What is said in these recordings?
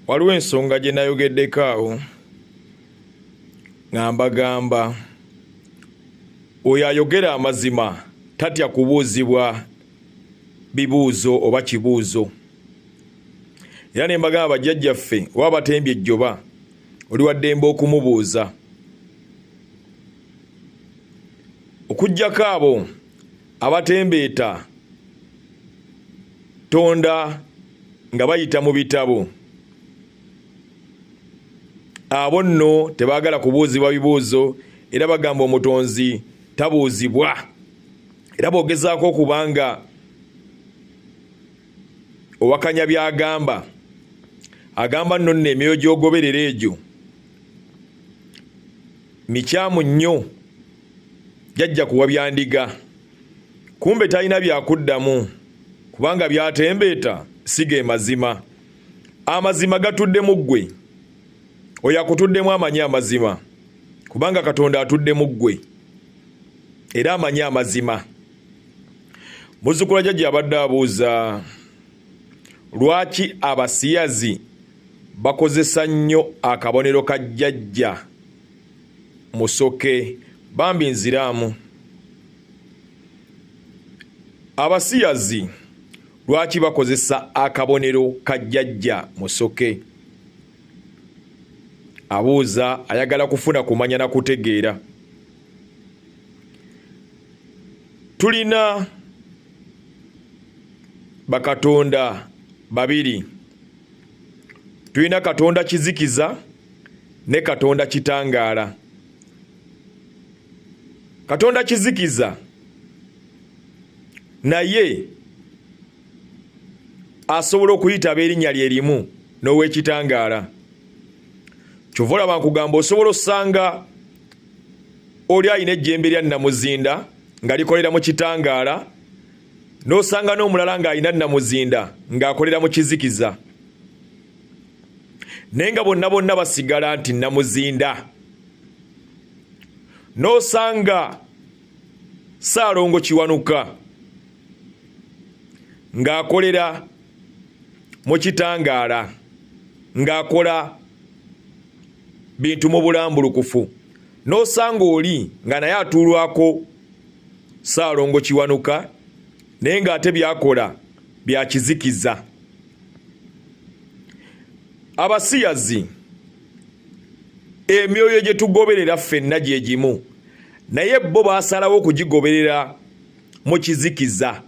waliwo ensonga gye nayogeddeko awo nga mbagamba oyo ayogera amazima tatya kubuuzibwa bibuuzo oba kibuuzo era ne mbagamba bajjajjaffe oba batembye ejjoba oli waddembe okumubuuza okugyako abo abatembeeta tonda nga bayita mu bitabo abo nno tebaagala kubuuzibwa bibuuzo era bagamba omutonzi tabuuzibwa era bwogezaako okuba nga owakanya byagamba agamba nno nno emyoyo gyogoberera egyo mikyamu nnyo jajja kuwa byandiga kumbe talina byakuddamu kubanga byatembeeta si ge mazima amazima gatudde mu ggwe oyo akutuddemu amanyi amazima kubanga katonda atudde mu ggwe era amanyi amazima muzukula jajja abadde abuuza lwaki abasiyazi bakozesa nnyo akabonero ka jjajja musoke bambi nziramu abasiyazi lwaki bakozesa akabonero ka jjajja musoke abuuza ayagala kufuna kumanya na kutegeera tulina bakatonda babiri tulina katonda kizikiza ne Katonda kitangaala. Katonda kizikiza naye asobola okuyita ab'erinnya lye limu n'ow'ekitangaala. Kyova olaba nkugamba osobola osanga oli alina ejjembe lya nnamuzinda nga likolera mu kitangaala n'osanga n'omulala ng'alina nnamuzinda ng'akolera mu kizikiza. naye nga bonna bonna basigala nti namuzinda n'osanga saalongo kiwanuka ng'akolera mu kitangaala ng'akola bintu mu bulambulukufu n'osanga oli nga naye atuulwako saalongo kiwanuka naye ng'ate byakola bya kizikiza abasiyazi emyoyo gye tugoberera ffenna gye gimu naye bo baasalawo okugigoberera mu kizikiza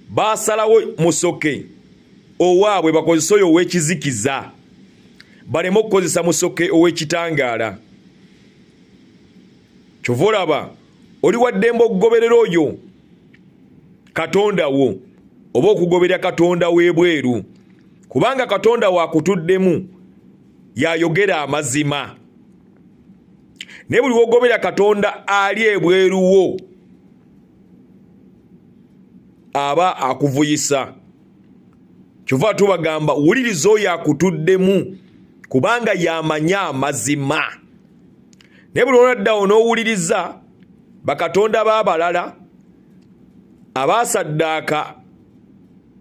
baasalawo musoke owaabwe bakozese oyo ow'ekizikiza baleme okukozesa musoke ow'ekitangaala kyova olaba oli waddembe okugoberera oyo katonda wo oba okugoberera katonda w'ebweru kubanga katonda wakutuddemu yayogera amazima naye buli wogobera katonda ali ebweru wo aba akuvuyisa kyova tubagamba wuliriza oyo akutuddemu kubanga yamanya amazima naye buli olwaddawo n'owuliriza bakatonda b'abalala abaasaddaaka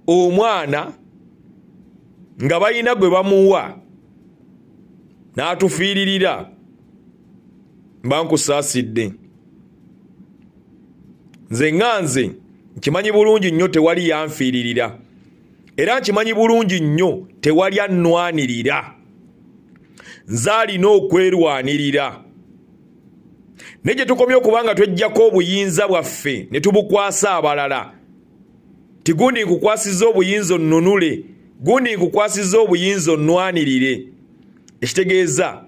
omwana nga balina gwe bamuwa n'atufiiririra mba nkusaasidde nze nga nze nkimanyi bulungi nnyo tewali yanfiiririra era nkimanyi bulungi nnyo tewali annwanirira nze alina okwerwanirira naye gye tukomye okuba nga tweggyako obuyinza bwaffe ne tubukwasa abalala ti gundi nkukwasiza obuyinza onnunule gundi nkukwasiza obuyinza onnwanirire ekitegeeza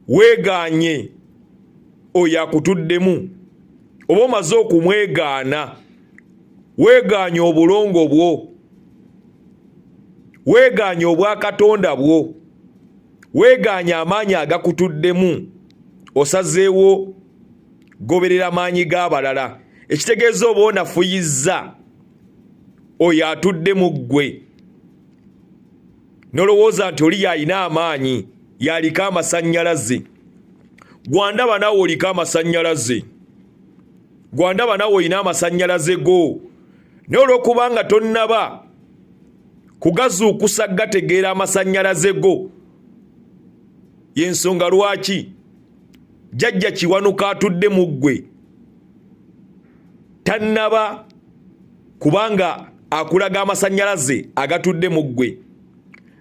weegaanye oyo akutuddemu oba omaze okumwegaana weegaanye obulongo bwo weegaanye obwakatonda bwo weegaanye amaanyi agakutuddemu osazeewo goberera maanyi g'abalala ekitegeeza oba onafuyizza oyo atudde mu ggwe nolowooza nti oli yalina amaanyi yaliko amasannyalaze gwandaba naawe oliko amasannyalaze gwandaba nawe olina amasanyalaze go naye olwokubanga tonnaba kugazuukusa gategeera amasanyalaze go yensonga lwaki jajja kiwanuka atudde mu ggwe tannaba kubanga akulaga amasanyalaze agatudde mu ggwe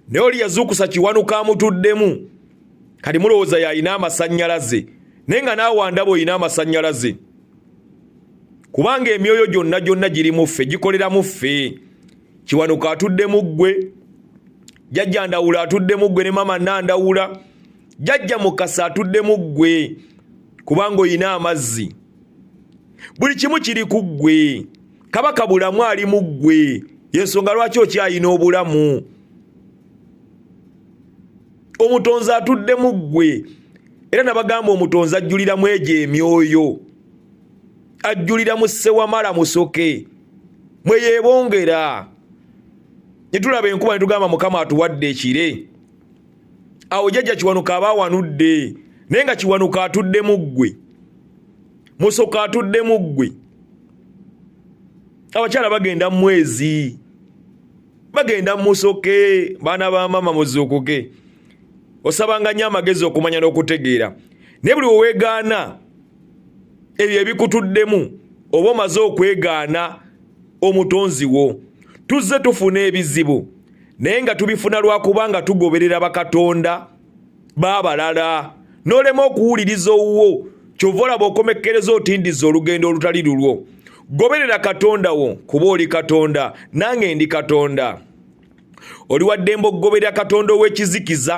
naye oli yazuukusa kiwanuka amutuddemu kati mulowooza yalina amasannyalaze naye nga naawandaba olina amasannyalaze kubanga emyoyo gyonna gyonna giri mu ffe gikolera mu ffe kiwanuka atudde mu ggwe jajja ndawula atudde mu ggwe ne maama nandawula jajja mukasa atudde mu ggwe kubanga olina amazzi buli kimu kiri ku ggwe kabaka bulamu ali mu ggwe yensonga lwaki okyalina obulamu omutonzi atudde mu ggwe era nabagamba omutonzi ajjulira mu egyo emyoyo ajjulira mu ssewamala musoke mwe yeebongera ne tulaba enkuba ne tugamba mukama atuwadde ekire awo jajja kiwanuka aba awanudde naye nga kiwanuka atudde mu ggwe musoka atudde mu ggwe abakyala bagenda mu mwezi bagenda musoke baana ba maama muzuukuke osabanga nnyo amagezi okumanya n'okutegeera naye buli weweegaana ebyo ebikutuddemu oba omaze okwegaana omutonzi wo tuzze tufuna ebizibu naye nga tubifuna lwakuba nga tugoberera bakatonda baabalala n'olema okuwuliriza owuwo kyova olaba okomekkereza otindiza olugendo olutali lulwo goberera katonda wo kuba oli katonda nange ndi katonda oli waddembe okugoberera katonda ow'ekizikiza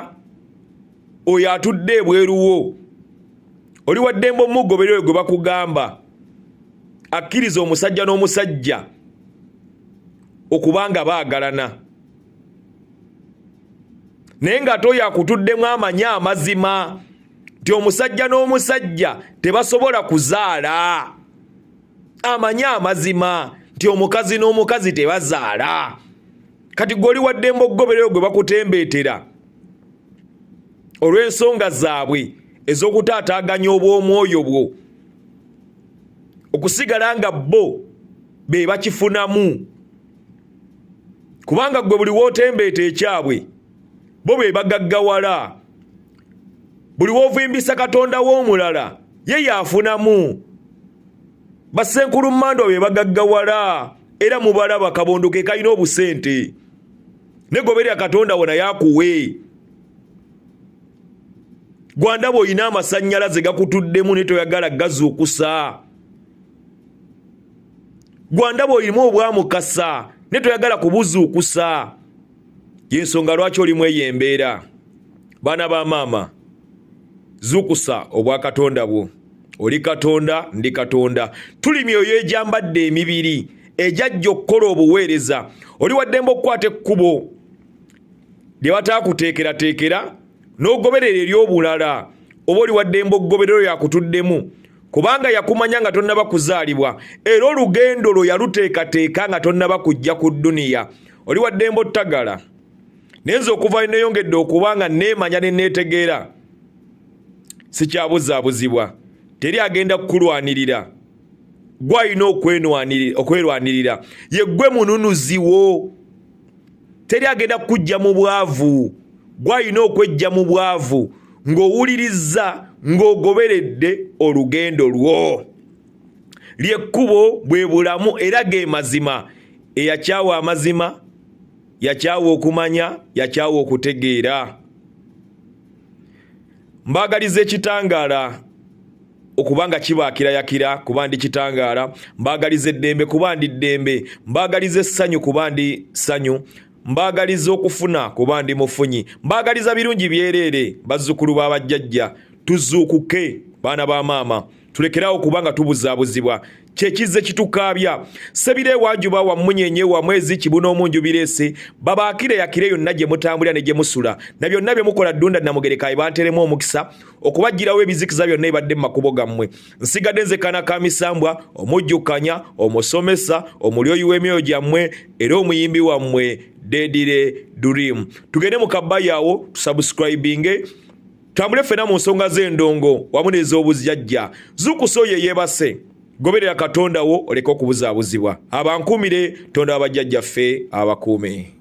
oyo atudde ebweruwo oli waddembe omugoberera oyo gwe bakugamba akkiriza omusajja n'omusajja okuba nga baagalana naye nga toyo akutuddemu amanyi amazima nti omusajja n'omusajja tebasobola kuzaala amanyi amazima nti omukazi n'omukazi tebazaala kati gwe oli waddemba okugoberero gwe bakutembeetera olw'ensonga zaabwe ez'okutaataaganya obw'omwoyo bwo okusigala nga bo be bakifunamu kubanga gwe buli wotembeeta ekyabwe bo be bagaggawala buli wovimbisa katonda w'omulala ye yaafunamu basenkulu mandwa be bagaggawala era mubalaba kabondo ke kalina obusente negoberya katonda wona yakuwe gwanda bwolina amasanyalaze gakutuddemu netoyagala gazuukusa gwandaba olimu obwamukasa naye toyagala kubuzuukusa yensonga lwaki olimu eyo embeera baana ba maama zuukusa obwa katonda bwo oli katonda ndi katonda tuli myoyo egyambadde emibiri egyajja okukola obuweereza oli waddembe okukwata ekkubo lye bataakuteekerateekera n'ogoberera eri obulala oba oli waddembe okugoberero yakutuddemu kubanga yakumanya nga tonnaba kuzaalibwa era olugendo lwo yaluteekateeka nga tonnaba kujja ku dduniya oli waddembe ottagala naye nze okuva neyongedde okuba nga neemanya ne neetegeera sikyabuzaabuzibwa teri agenda kukulwanirira gwalina okwerwanirira yeggwe mununuziwo teri agenda kukujja mu bwavu gwalina okwejja mu bwavu ng'owulirizza ng'ogoberedde olugendo lwo lyekkubo bwe bulamu era ge mazima eyakyawa amazima yakyawa okumanya yakyawa okutegeera mbaagaliza ekitangaala okuba nga kibakilayakira kuba ndi kitangaala mbaagaliza eddembe kuba ndi ddembe mbaagaliza essanyu kuba ndi ssanyu mbaagaliza okufuna kuba ndi mufunyi mbaagaliza birungi byereere bazzukulu ba bajjajja tuzuukuke baana ba maama tulekerawo kuba nga tubuzaabuzibwa kyekizze kitukaabya sebira ewajuba wa munyenye wa mwezi kibuna omunju birese babaakire yakire yonna gye mutambulira ne gye musula na byonna bye mukola ddunda namugerekaye banteremu omukisa okubajjirawo ebizikiza byonna ebadde mu makubo gammwe nsigadde nzekana ka misambwa omujjukanya omusomesa omulyoyi w'emyoyo gyammwe era omuyimbi wammwe dedire dream tugende mu kabayawo tusubscribinge tambule ffena mu nsonga z'endongo wamu n'ez'obuzjajja zukusa oyo eyebase goberera katonda wo oleke okubuzaabuzibwa abankuumire tonda wa bajjajjaffe abakuume